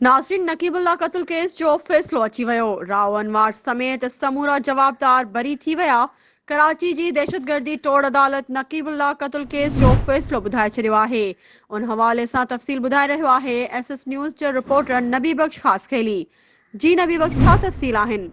ناصرين Naqeebullah قتل case جو فيصلو اچي ويو، راء انوار سميت سمورا جوابدار بري ٿي ويا، ڪراچي جي دهشتگردي ٽوڙ عدالت نقيب الله قتل ڪيس جو فيصلو ٻڌائي ڇڏيو آهي، ان حوالي سان تفصيل ٻڌائي رهيو آهي ايس ايس نيوز جي رپورٽر نبي بخش خاصخيلي، جي نبي بخش ڇا تفصيل آهن؟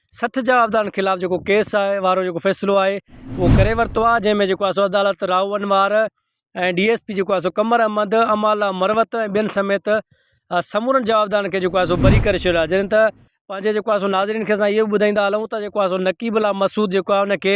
سٺ جا عھديدارن خلاف جيڪو ڪيس آھي وارو جيڪو فيصلو آھي اھو ڪري ورتو آھي جنھن ۾ جيڪو آھي سو عدالت Rao Anwar ۽ D S P جيڪو آھي سو قمر احمد امالا مروت ۽ ٻين سميت سمورن جوابدارن کي جيڪو آھي سو بري ڪري ڇڏيو آھي جڏھن ته پنھنجي جيڪو آھي سو ناظرين کي اسان اھو ٻڌائيندا ھلون ته جيڪو آھي سو نقيب الله مسعود جيڪو آھي ان کي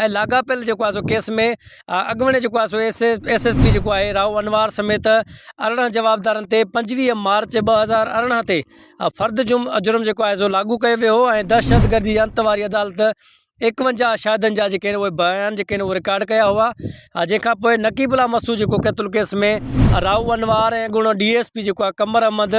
۽ لاڳاپيل جيڪو آهي سو ڪيس ۾ اڳوڻي جيڪو آهي سو ايس ايس ايس پي جيڪو آهي راهو انوار سميت ارڙهن جوابدارن تي پنجويهه مارچ ٻه هزار ارڙهن تي فرد جم جرم جيڪو آهي سو لاڳو ڪيو ويو هو ۽ دهشتگردي جي انت واري عدالت ايڪونجاهه شاهدن جا جيڪي اهي بيان جيڪي آهن اهي رڪارڊ ڪيا هئا ۽ جنهن کان پوء نقيب الله مسعود جيڪو قتل ڪيس ۾ راهو انوار ۽ اڳوڻو ڊي ايس پي جيڪو آهي قمر احمد